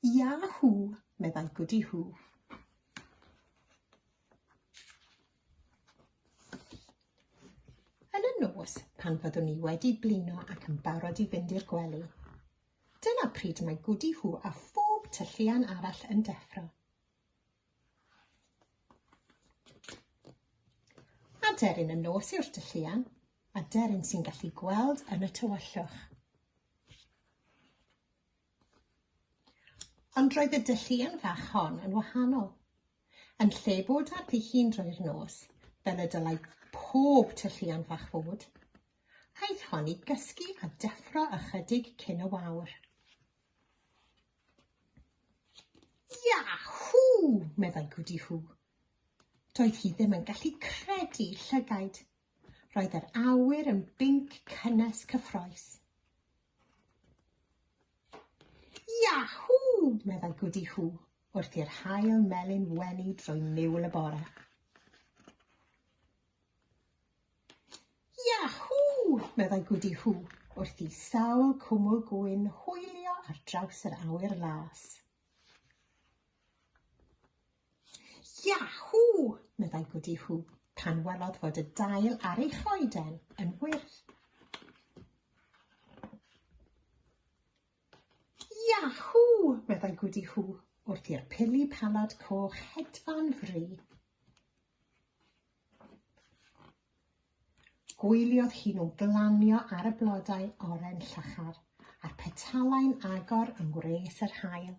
Yahoo! meddai Goody Hoo. Yn y nos, pan fyddwn ni wedi blino ac yn barod i fynd i'r gwely, dyna pryd mae Goody Hoo a phob tylluan arall yn deffro. Aderyn y nos yw'r tylluan, aderyn sy'n gallu gweld yn y tywyllwch. Ond roedd y dylluan fach hon yn wahanol. Yn lle bod ar ddi hun drwy'r nos, fel y dylai pob tylluan fach fod, aeth hon i gysgu a deffro ychydig cyn y wawr. Yahoo! meddai Gwdi Hw. Doedd hi ddim yn gallu credu llygaid. Roedd yr awyr yn binc cynnes cyffroes. Yahoo! meddai Gwdi Hw wrth i'r hael melyn wenu drwy niwl y bore. Yahw! meddai Gwdi Hw wrth i sawl cwmwl gwyn hwylio ar draws yr awyr las. Yahw! meddai Gwdi Hw pan welodd fod y dail ar ei choeden yn wyrdd. Yahw! meddai Gwdi Hw wrth i'r pili palad coch hedfan fri. Gwyliodd hi nhw glanio ar y blodau oren llachar, a'r petalau'n agor yng ngwres yr haul.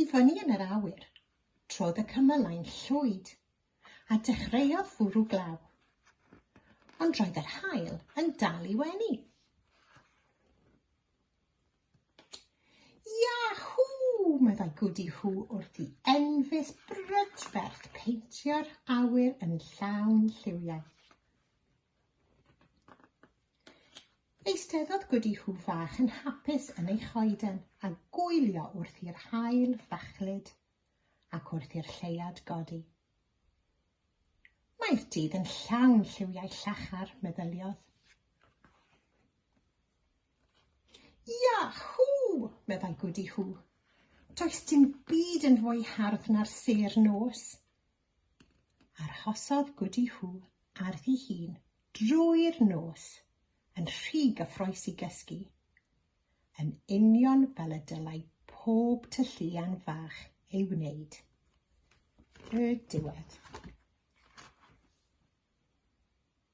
I fyny yn yr awyr, trodd y cymylau'n llwyd, a dechreuodd fwrw glaw. Ond roedd yr haul yn dal i wenu. Yahoo! meddai Gwdi Hw wrth i enfys brydferth peintio'r awyr yn llawn lliwiau. Eisteddodd Gwdi Hw fach yn hapus yn ei choeden a gwylio wrth i'r haul fachlyd ac wrth i'r lleiad godi. Mae'r dydd yn llawn lliwiau llachar, meddyliodd. Yahw! meddai Gwdi Hŵ. Does dim byd yn fwy hardd na'r sêr nos. Arhosodd Gwdi Hŵ ar ddi hun drwy'r nos, yn rhy gyffroes i gysgu, yn union fel y dylai pob tylluan fach ei wneud. Y diwedd.